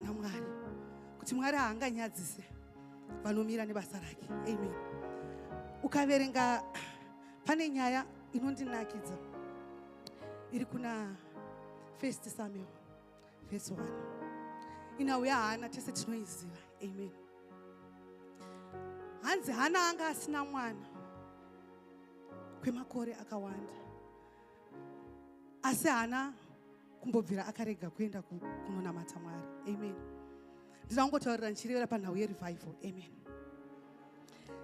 namwari kuti mwari haanganyadzise vanomira nebasa rake amen ukaverenga pane nyaya inondinakidza iri kuna first samuel vhesi 1 inauya hana tese tinoiziva amen hanzi hana anga asina mwana kwemakore akawanda asi haana kumbobvira akarega kuenda kunonamata mwari amen ndina kungotaurira ndichirevera panhau yerevival amen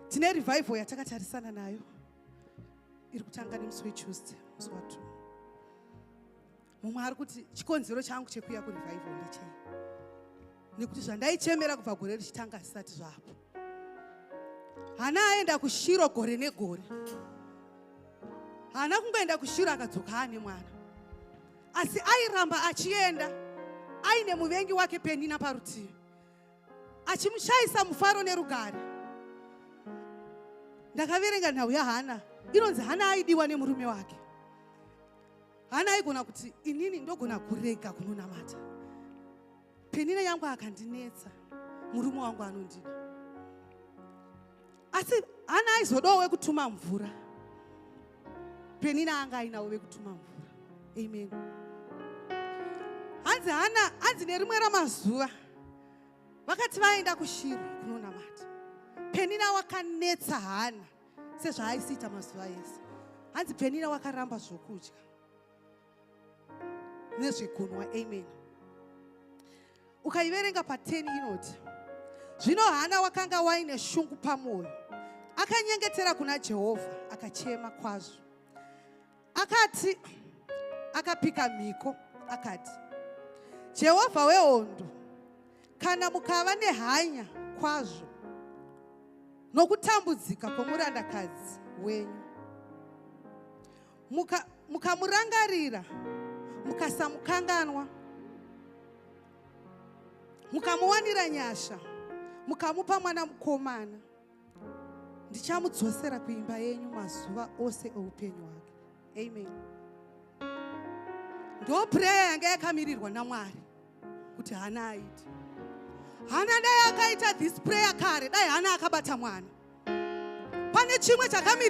tine revival yatakatarisana nayo iri kutanga nemusi wetuesday musi watu mumwe ari kuti chikonzero changu chekuuya kurevival ndechei nekuti zvandaichemera kubva gore richitanga zvisati zvapo hana aenda kushiro gore negore haana kungoenda kushiro akadzoka aane mwana asi airamba achienda aine muvengi wake penina parutivi achimushaisa mufaro nerugare ndakaverenga nhau yahana inonzi hana aidiwa nemurume wake hana aigona kuti inini ndogona kurega kunonamata Penina yangu akandinetsa murume wangu anondida asi hana aizodawo wekutuma mvura penina anga ainawo vekutuma mvura amen hanzi hana hanzi nerimwe ramazuva vakati vaenda kushiri kunonamata penina wakanetsa hana sezvaaisiita mazuva ese hanzi penina wakaramba zvokudya nezvekunwa amen ukaiverenga pateni inoti zvino hana wakanga waine shungu pamwoyo akanyengetera kuna jehovha akachema kwazvo akati akapika mhiko akati jehovha wehondo kana mukava nehanya kwazvo nokutambudzika kwomurandakadzi wenyu mukamurangarira muka mukasamukanganwa mukamuwanira nyasha mukamupa mwana mukomana ndichamudzosera kuimba yenyu mazuva ose oupenyu hwake amen ndo pureya yanga yakamirirwa namwari kuti hana aiti hana dai akaita this prayer kare dai hana akabata mwana pane chimwe chakamiri